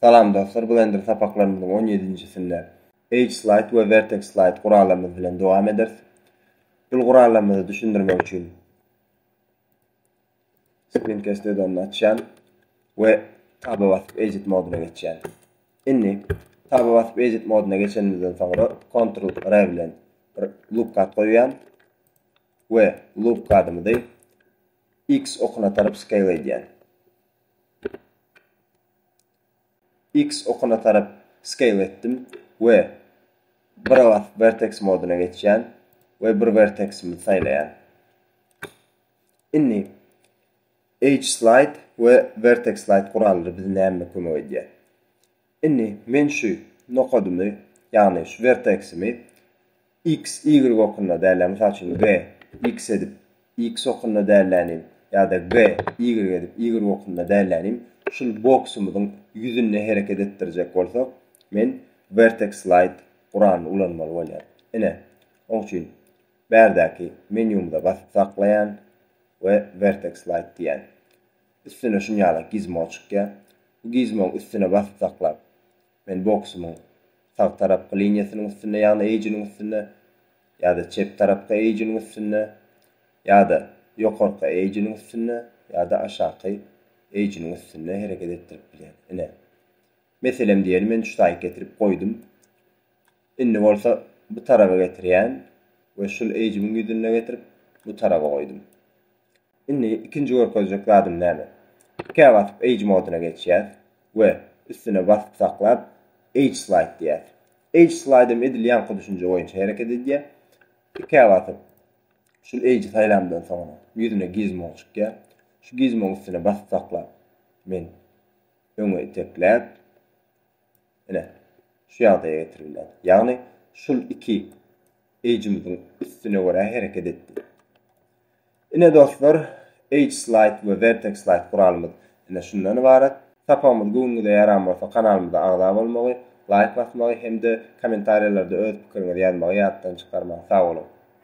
Salam dostlar Blender sapaklarymyzyň on ýedinjisinde Edge Slide we Vertex Slide gurallarymyz bilen dowam ederis. Bul gurallarymyzy düşündirmek üçin Screencast add-onyny açýan we Taba basyp Edit modyna geçýän. Indi Taba basyp Edit modyna geçenimizden soňra Ctrl R bilen bir loop kod goýýan we loop kodymyzy X okuna tarap scale edýän. X okuna tarap scale etdim we bira basyp vertex moduna geçýän we bir verteximi saýlaýan. Indi Edge slide we vertex slide gurallary bize näme kömek edýär? Indi men şu nokadymy, ýagny şu werteksimi X, Y okunda dälä, mysal üçin G, X edip, X okunda dälänim ýa-da G, Y edip, Y okunda dälänim, şul boksumyzyň ýüzünde hereket etdirjek bolsak, men Vertex Slide guranyny ulanmaly bolýar. Ine, oň üçin bärdäki menýumyza basyp saklaýan we Vertex Slide diýýän. Üstüne şunýalak gizmo çykýar. Bu gizmony üstüne basyp saklap, men boksumyň sag tarapky liniýasynyň üstünde, ýagny eýjiniň üstünde ýa-da çep tarapky eýjiniň üstünde ýa-da ýokarky eýjiniň üstünde ýa-da aşaky eýjiniň üstünde hereket etdirip bilýän. Ine, meselem diýeli men ştaýk getirip goýdum. Indi bolsa bu taraba getirýän we şul eýjimiň ýüzünde getirip bu taraba goýdum. Indi ikinji görkezjek zadym näme? Tikä basyp Edge moduna geçýäs we üstüne basyp saklap Edge Slide diýýäs. Edge Slide hem edil ýaňky düşünje boýunça hereket edýär. Tikä basyp şul Edge saýlamdan soňra ýüzüne gizmo çykýar. Şu gizmoň üstüne basyp saklap men öňe itekläp Ine, şu ýagdaýa getirilýär. Ýagny şul iki eýjimiziň üstüne görä hereket etdi. Ine dostlar, Edge Slide we Vertex Slide guralymyz ine şundan ybarat. Sapagymyz göwnüňize ýaran bolsa kanalymyza agza bolmagy, laýk basmagy hem-de kommentariýalarda öz pikiriňizi ýazmagy ýatdan çykarmaň. Sag boluň!